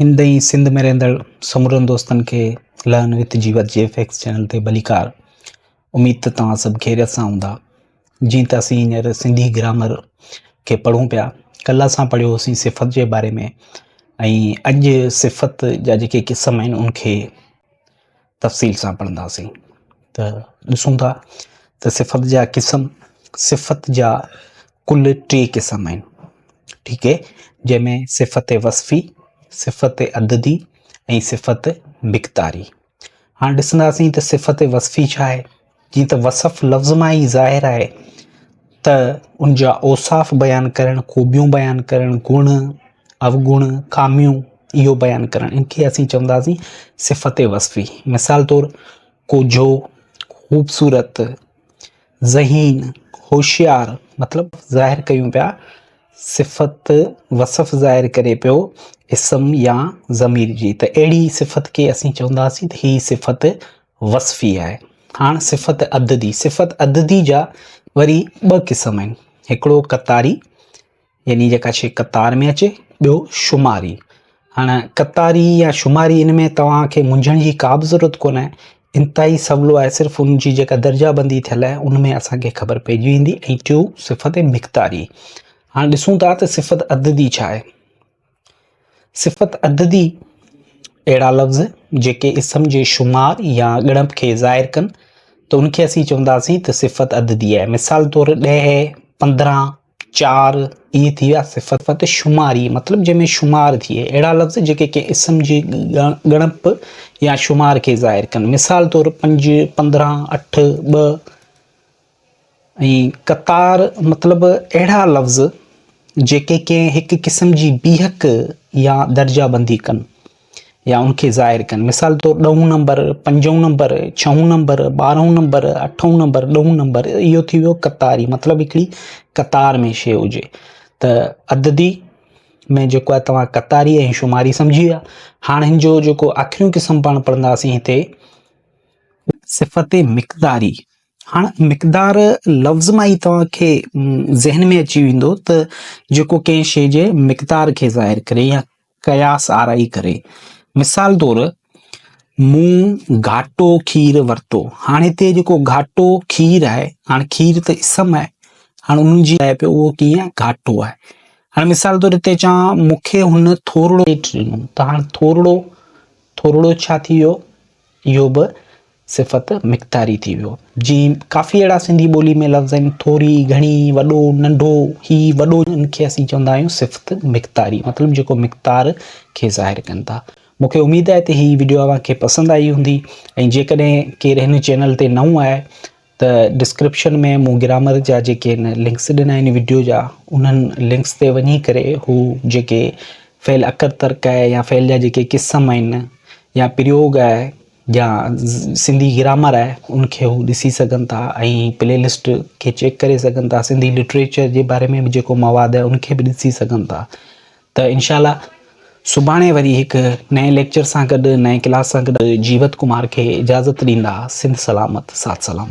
هند ۽ سنڌ ۾ رهندڙ سمورن دوستن کي لهن وٿ جي وت جي ايف ايڪس چينل تي ڀليڪار. اميد ته توهان سڀ خيريت سان هوندا. جيئن ته اسين هينئر سنڌي گرامر کي پڙهون پيا، ڪلهه اسان پڙهيو هوسين صفت جي باري ۾ ۽ اڄ صفت جا جيڪي قسم آهن ان کي تفصيل سان پڙهنداسين ته ڏسون ٿا ته صفت جا قسم صفت جا ڪل ٽي قسم آهن ٺيڪ اهي جنهن ۾ صفت وصفي صفت عددي ۽ صفت مقداري هاڻ ڏسنداسين ته صفت وصفي ڇا آهي جيئن ته وصف لفظ مان ئي ظاهر آهي ته ان جا اوصاف بيان ڪرڻ، خوبيون بيان ڪرڻ، گڻ، اوگڻ، خاميون اهو بيان ڪرڻ ان کي اسين چونداسين صفت وصفي. مثال طور ڪوجهو، خوبصورت، ذهين، هوشيار مطلب ظاهر ڪيون پيا صفت وصف ظاهر ڪري پيو اسم يا ضمير جي ته اهڙي صفت کي اسين چونداسين ته هي صفت وصفي آهي. هاڻ صفت عددي، صفت عددي جا وري ٻه قسم آهن، هڪڙو قطاري يعني جيڪا شيء قطار ۾ اچي، ٻيو شماري. هاڻ قطاري يا شماري ان ۾ توهان کي منجهڻ جي ڪا به ضرورت ڪونه آهي، انتهائي سولو آهي صرف ان جي جيڪا درجا بندي ٿيل آهي ان ۾ اسان کي خبر پئجي ويندي ۽ ٽيون صفت مقداري. هاڻ ڏسون ٿا ته صفت عددي ڇا آهي. صفت عددي، اهڙا لفظ جيڪي اسم جي شمار يا ڳڻپ کي ظاهر ڪن ته ان کي اسين چونداسين ته صفت عددي آهي. مثال طور ڏهه، پندرهن، چار اهي ٿي ويا صفت شماري مطلب جنهن ۾ شمار ٿئي. اهڙا لفظ جيڪي ڪنهن اسم جي ڳڻپ يا شمار کي ظاهر ڪن. مثال طور پنج، پندرهن، اٺ، ٻه. ۽ قطار مطلب اهڙا لفظ جيڪي ڪنهن هڪ قسم جي بيهڪ يا درجه بندي ڪن يا ان کي ظاهر ڪن مثال طور ڏهون نمبر، پنجون نمبر، ڇهون نمبر، ٻارهون نمبر، اٺون نمبر، ڏهون نمبر اهو ٿي ويو قطاري مطلب هڪڙي قطار ۾ شيء هجي ته عددي ۾ جيڪو آهي توهان قطاري ۽ شماري سمجهي ويا هاڻ هن جو جيڪو آخريون قسم پاڻ پڙهنداسين هتي صفت مقداري هاڻ مقدار لفظ مان ئي توهان کي ذهن ۾ اچي ويندو ته جيڪو ڪنهن شيء جي مقدار کي ظاهر ڪري يا قياس آرائي ڪري. مثال طور مون گهاٽو کير ورتو. هاڻ هتي جيڪو گهاٽو کير آهي، هاڻ کير ته اسم آهي، هاڻ ان جي لاء به اهو ڪيئن آهي گهاٽو آهي. هاڻ مثال طور هتي چوان مون کي هن ٿورڙو پيٽ ڏنو ته هاڻ ٿورڙو، ٿورڙو ڇا ٿي ويو؟ اهو به صفت مقداري ٿي ويو. جيئن ڪافي اهڙا سنڌي ٻولي ۾ لفظ آهن، ٿوري، گهڻي، وڏو، ننڍو، هي، وڏو، ان کي اسين چوندا آهيون صفت مقداري مطلب جيڪو مقدار کي ظاهر ڪن ٿا. مون کي اميد آهي ته هي وڊيو اوهان کي پسند آئي هوندي ۽ جيڪڏهن ڪير هن چينل تي نئون آهي ته ڊسڪرپشن ۾ مون گرامر جا جيڪي هن لنڪس ڏنا آهن وڊيو جا انهن لنڪس تي وڃي ڪري هو جيڪي فعل اکر ترڪ آهي يا فعل جا جيڪي قسم آهن يا پريوگ آهي يا سنڌي گرامر آهي ان کي هو ڏسي سگهن ٿا ۽ پلي لسٽ کي چيڪ ڪري سگهن ٿا سنڌي لٽريچر جي باري ۾ به جيڪو مواد آهي ان کي به ڏسي سگهن ٿا ته انشاء الله سڀاڻي وري هڪ نئين ليڪچر سان گڏ نئين ڪلاس سان گڏ جيوت ڪمار کي اجازت ڏيندا سنڌ سلامت سات سلامت